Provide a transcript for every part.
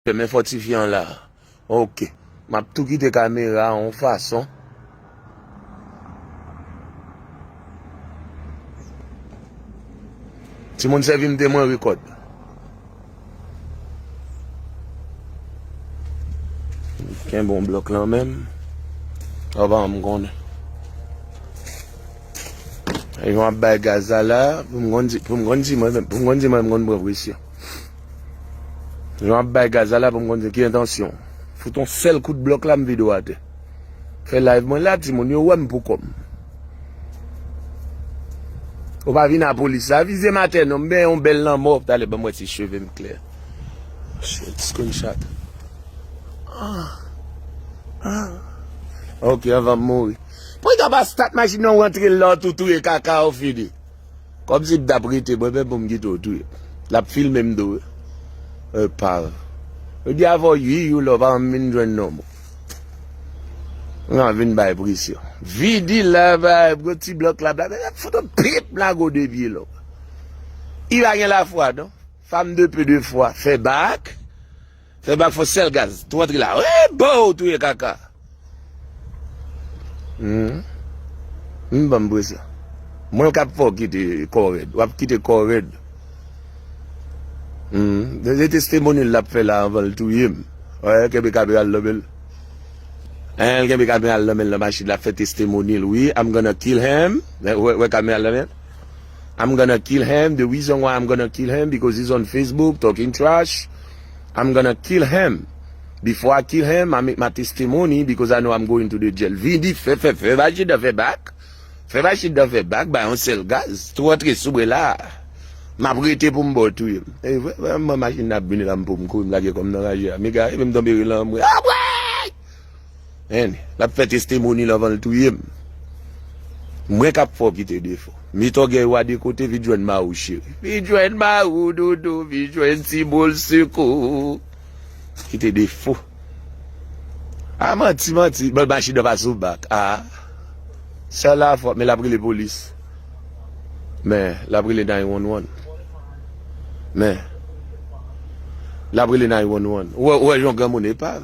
Femen fòtifye an la ok. Map tou kite kamera an yon fason. Timoun sèvim de mwen record. Kenbe yon blok lan menm. Ou pa janm konnen. Yon ap bay gaz la la pou m konn si mwen menm konn presyon. Jan ap bay gaz la la pou m konn se ki entansyon. Fout on sèl kout blòk la m vide ou atè. Fè live mwen la ti moun yo wè m pou kò m. Ou pa vin a polis la vize m atè non m benyen on bèl lanmò talè banm wè si cheve m klè. Shit screen shot. Ok anvan m mouri. Pou y ta pa stat machin nan ou antre l la ou tou touye kaka ou fini. Kòmsi m tap rete mwen menm poum kite w touye lap filme m tou wi epav yo di avè w ui you lò pa janm vin jwenn non boo m ap vin bay presyon vidi la gwo ti blòk la blablabla lap fout w pip lago de pye long u pa gen lafwa non fam de pe de fwa fè bak. Fè bak fò sèl gaz. Tou antre la. Ohh boo ou touye kaka. Humm banm presyon. Mwen kap fè w kite kò rèd. Wap kite kò w rèd. Humm se testemony lap fè la anvan l touye m. Ohh kenbe kamera l nan men l. Anh l kenbe kamera l nan men l nan machin lap fè testemony l wi I'm gonna kill him ou wè kamera l nan men l I'm gonna kill him the reason why I'm gonna kill him because he's on Facebook talking trash I'm gonna kill him before I kill him I make my testimony because I know I'm going to the jail Vidi fè fè fè bay chita fè bak fè bay chita fè bak bay yon sèl gaz tou antre sou mwen la Map rete pou m ba w touye m e vre m pran machin nan ap vini la m pou m kouri m lage kò m nan raje a mega e m tonbe ri lan m ri Abray! Hen lap fè testemonil anvanl touyem Mwen kap fè w kite defo Met ògèy ou a de kote vin jwenn mari w cheri Vin jwenn mari w doudou Vin jwenn ti boul sikou Kite defo Ah manti manti Bon machine nan pa sou bak ah Sèl la fò men lap rele polis Men lap rele 911 Men lap rele 911 Ou wè jan yon granmoun epav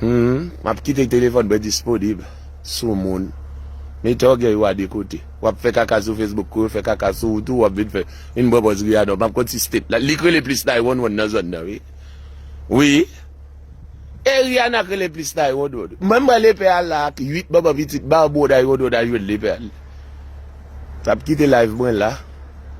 Humm map kite telefòn mwen disponible sou moun mete ògèy ou a de kote wap fè kaka sou Facebook kou yo fè kaka sou ou tou wap vin fè yn bon bòz ri a non map konn si state la li k rele plis nay wonn wonn nan zòn nan wi wi e Rihanna k rele plis nay wonn wonn wi menm mwen lepè a la ak 8 manman pitit barboo nay wonn wonn al jwenn lepè a li tap kite live mwen la.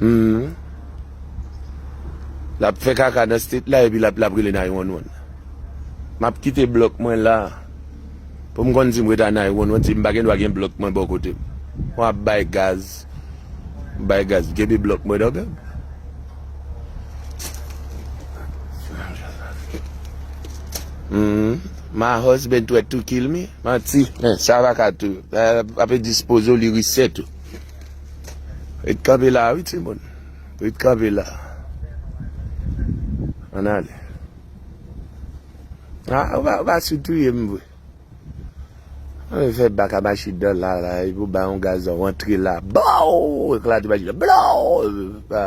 Humm lap fè kaka nan state la epi lap lap rele 911 map kite blòk mwen la poum konn sim reta 911 si mpa gen dwa gen blòk mwen bò kotem mwen ap bay gaz bay gaz kenbe blòk mwen ok. Humm. My husband threat to kill me? Manti, men sa pa ka tou. Ape dispoze w li reset ou. Ret kanpe la wi timoun. Ret kanpe la. An ale. A, ou pa, ou pa sou touye m vre. An le fè bak a machi dan la la, e pou ba yon gaz an, wantre la, baww, eklate machi dan, blaww, epi pa.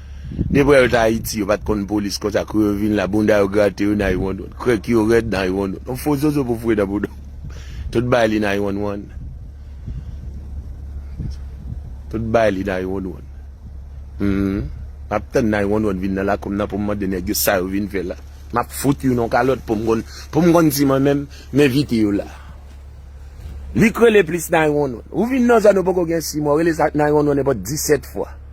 Depre yo t ayiti yo pat konn polis konsa kou yo vin la bounda yo grate yo nay wan wan krèk yo rèd nay wan wan on fo zozo pou foure nan boudaw tout bay li nay wan wan tout bay li nay wan wan humm map tann nay wan wan vin nan lakou m nan poum mande nèg yo sa yo vin fè la map fout youn on kalòt poum konn poum konn si mwen menm m envite yo la li k rele plis nay wan wan ou vin nan zòn ou poko gen 6 mwa w rele sa nay wan wan nenpòt 17 fwa.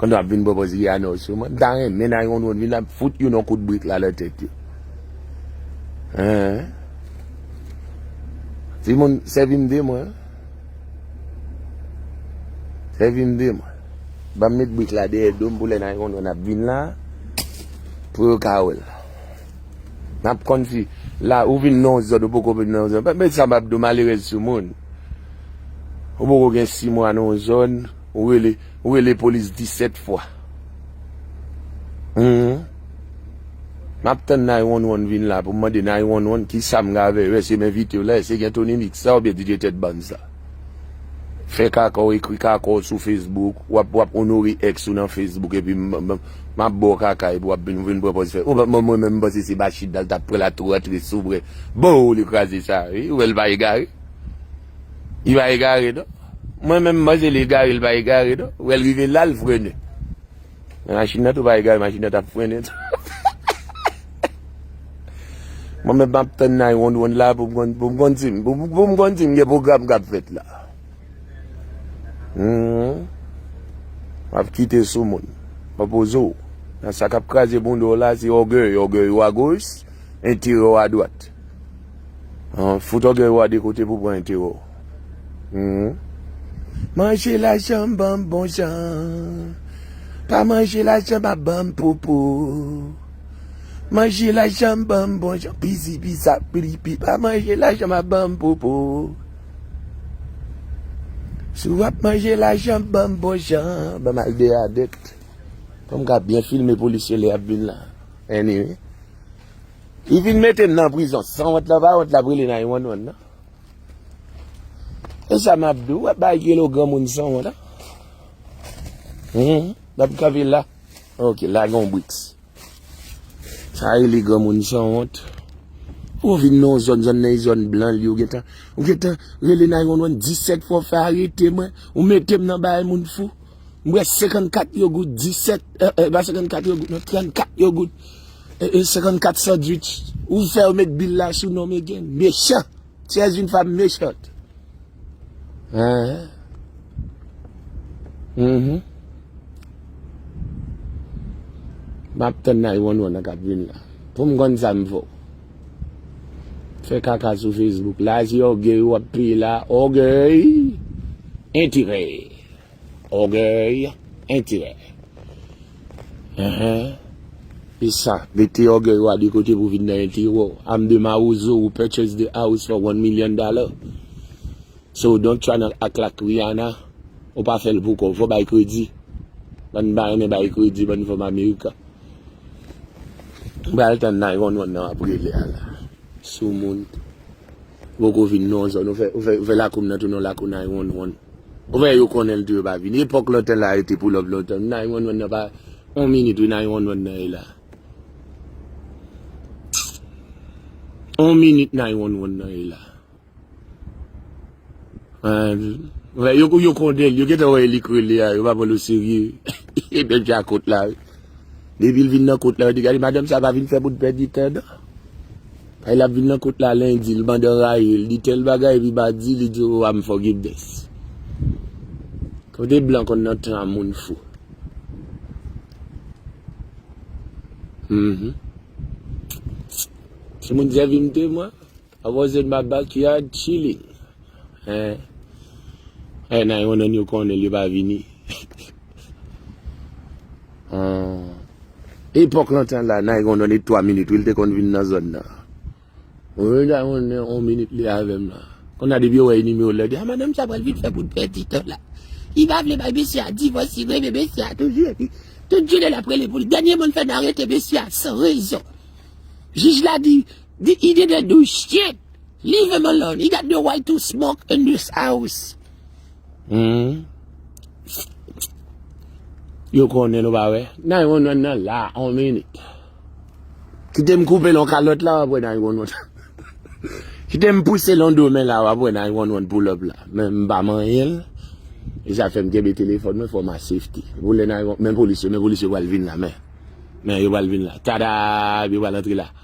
Kon nou ap vin pran pòz Rihanna ou Sumane. M ta renmen nan yon dwòn vin ap fout youn yon kout brik la nan tèt yo. Eehh. Ti moun sèvi m de mwen. Sèvi m de mwen. Ban m met brik la dèyè do m pou lè nan yon dwòn ap vin la pou yo ka wè l. M ap konn si la ou vin nan yon zòn ou poko vin nan yon zòn. Mèt sa m ap di w malerèz Sumone. Ou poko gen 6 mwa nan yon zòn. Ou rele ou rele police 17 fwa humm map tann 911 vin la poum mande 911 kisam ka vè yo eske m envitew la eske gen tony mix la oubyen DJ tèt bann sa fè kaka w ekri kaka w sou Facebook wap wap onore ex ou nan Facebook epi map baw kaka epi wap vin pran pòz fè ou mwen menm m panse se Bathsheba l tap pran la tou antre sou mwen boo li kraze sa wi ou wèl pa egare. Li pa egare non. Mwen menm mwen panse li egare li pa egare non. Ou wèl rive la li frene. Men machin nan tou pa egare machin nan tap frene tou. Mwen menm map tann nan wonn wonn la pou m konn si m pou m konn si m gen pwogram kap fèt la. Wap kite sou moun. Wap poze w. Nan sa kap kraze bouda w la se ògèy. Ògèy ou a goch, enterè ou a dwat. Fout ògèy ou a de kote pou pran enterè w. Manje lajan m ban m bon jan. Pa manje lajan m ap ban m popo. Manje lajan m ban m bon jan. Pizi pizap piripi. Pa manje lajan m ap ban m popo. Si w ap manje lajan m ban m bon jan. Ban m al dèyè adèt. Pou m ka byen filme polisye lè y ap vin la. Anyway. Li vin mete m nan prizon. Sanwont lan pa wont lap rele 911 nan. E sa map di w wap bay kilo granmoun sanwont an. Hum map kanpe la. Ok la gen yon briks. Sa rele granmoun sanwont. Ou vin nan yon zòn, zòn nan e zòn blan li yo gentan. Ou gentan rele 911 17 fwa ou fè arete mwen. Ou mete m nan bagay moun fou. Mwen 54 yo goud 17 e e pa 54 yo goud non 34 yo goud. 54 sandwich ou fè yo met bil la sou nom again mechan ti es une femme méchante humm map tann 911 an kap vin la poum konn sam fè w fè kaka sou Facebook la se orgueil wap peye la orgueil enterè. Ògèy, enterè. Enhen. Se sa. Mete ògèy ou a de kote pou vin nan enterè ou. I'm the mawozo who purchased the house for one million dollars. So don't try not act like Rihanna. Ou pa fè l pou kò w. Fò w bay kredi. Bann pa renmen bay kredi, bann fanm amerikan. M pral tann 911 nan w ap rele a la. Soumoun. Poko vin non zòn ou fè ou fè lakoum nan tounen yon lakou nay wonn wonn ou fè yo konnen l tou yo pa vini epòk lontan la yo te poulòp lontan nay wonn wonn nan pa yon minit wi nay wonn wonn nan ye la yon minit nay wonn wonn nan ye la yo konnen l yo gentan wè elik rele a yo pa pran l oserye e bèk djakot la. Depi l vin nan kot la yo di gade madanm sa pa vin fè moun pèdi tan nan. Kay lap vin nan kot la lendi l mande anrayi l di tèl bagay epi madi li di ou amfògibnès. Kote blan konn nan tan moun fou. Humm. Se moun sèvi m te mwen. I was in my backyard chilling eh eh nan yon nan yo konnen li pa vini ahh epòk lontan la nan yon nan li 3 minit wi li te konn vin nan zòn nan wi nan yon nan 1 minit li avèm la kounya depi yo wè nimewo lè yo di a madanm sa pral vin fè bout pèdi tan la li pa vle bay mesye a divòs li renmen mesye a toujou epi tout jounen lap rele pou li dènye mo li fè nan arete mesye a san rezon jij la di. The ide de do shit leave him alone he got no right to smoke in this house humm yo konnen nou pa wè 911 nan la on minit kitem koupe lon kalòt la wap wè 911 kitem pouse lon do men la wap wè 911 pull up la men m pa manyenl e sa fèm kenbe telefòn mwen for my safety pou lè 911 men polis yo men polis yo pral vin la men men yo pral vin la tadaa epi yo pral antre la.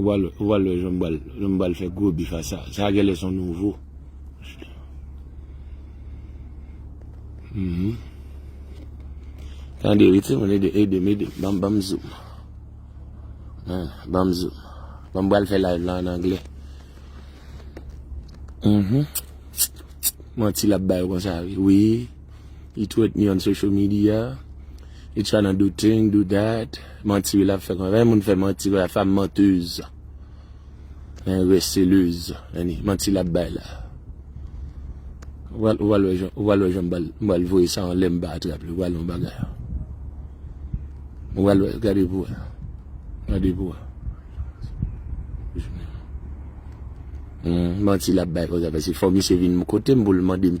Ou pral wè jan m pral fè gwo bif a sa. Sa genlè son nouvo. Tande wi ti moun edem edem banm zoom. Banm zoom. Banm pral fè live la an anglè. Manti lap bay yo konsa wi. Li twèt mi on social media, li tryna do thing, do that, manti wi lap fè konsa, men moun fè manti konsa fam menteuse, en receleuse, any manti lap bay la. Ou pral wè jan, ou pral wè jan mbal, mbal voye sa anlè mpa atrap li, ou pral wè yon bagay. Ou pral wè, gade pou wè, gade pou wè. Humm manti lap bay konsa, pase fò misye vin kotem poul mandem.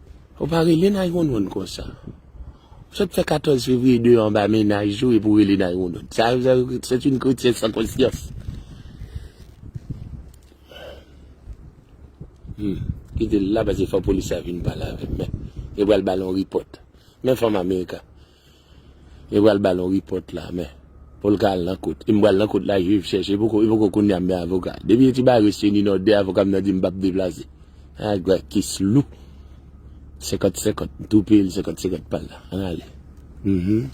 Ou pa rele 911 konsa. Ou sot fè 14 fevrier 2 anba mennaj ou epi w rele 911. Sa yo c'est une chrétienne sans conscience. Humm. Kite l la pase fò polis la vin pale avè l. Yo pral ba l yon report. Men fanm american. Yo pral bal yon report la men poul ka al nan kot e m pral nan kot la juge chèche e poko kounya m gen avoka depi ti bagay resi ni nan 2 avoka m nan di m pap deplase a gwa kes lou 50 50 m tou peyel 50 50 pal la an ale humm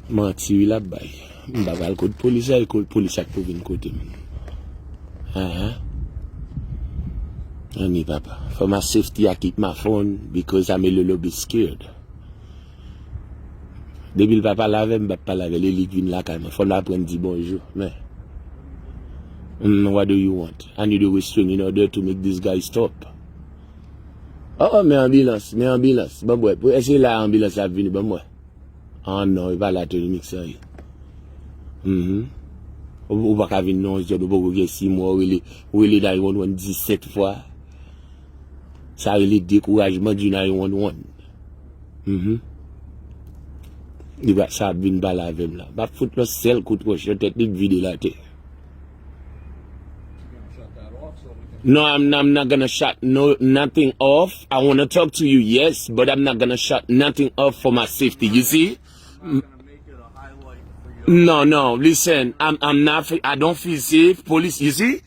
manti wi lap bay m pa pral kot polis la e kot polis la k pou vin kotem aa anmyy papa for my safety i keep my phone because am a little bit scared. Depi l pa pale avè m, m pap pale avè l. E li k vin lakay mwen. Fò n aprann di bonjou. Men. Humm, what do you want? I need a restroom in order to make this guy stop. Oh, men anbilans, men anbilans. Ban m wè. Pou, èske la anbilans la ap vini? Ban m wè. Ah non, e pa la Tony Mix sa ye. Humm. Ou pa ka vin non, John. Ou poko gen 6 mwa, ou rele, ou rele 911 17 fwa. Sa rele dekourajman di nan yon wonn wonn. Mm-hmm. Li va sa vin pale avè m la. Ba fout yon sel kout wòch nan tèt li di vide la te. No, I'm, I'm not gonna shut no, nothing off. I wanna talk to you, yes, but I'm not gonna shut nothing off for my safety. You see? No, no, listen, I'm, I'm not, I don't feel safe. Police, you see?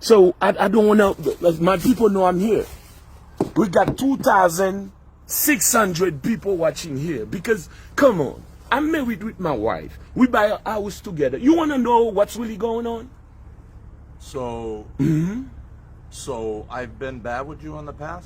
So I don't wanna my people know I'm here we got 2600 people watching here because come on I'm married with my wife we buy a house together you wanna know what's really going on So So I've been bad with you in the past?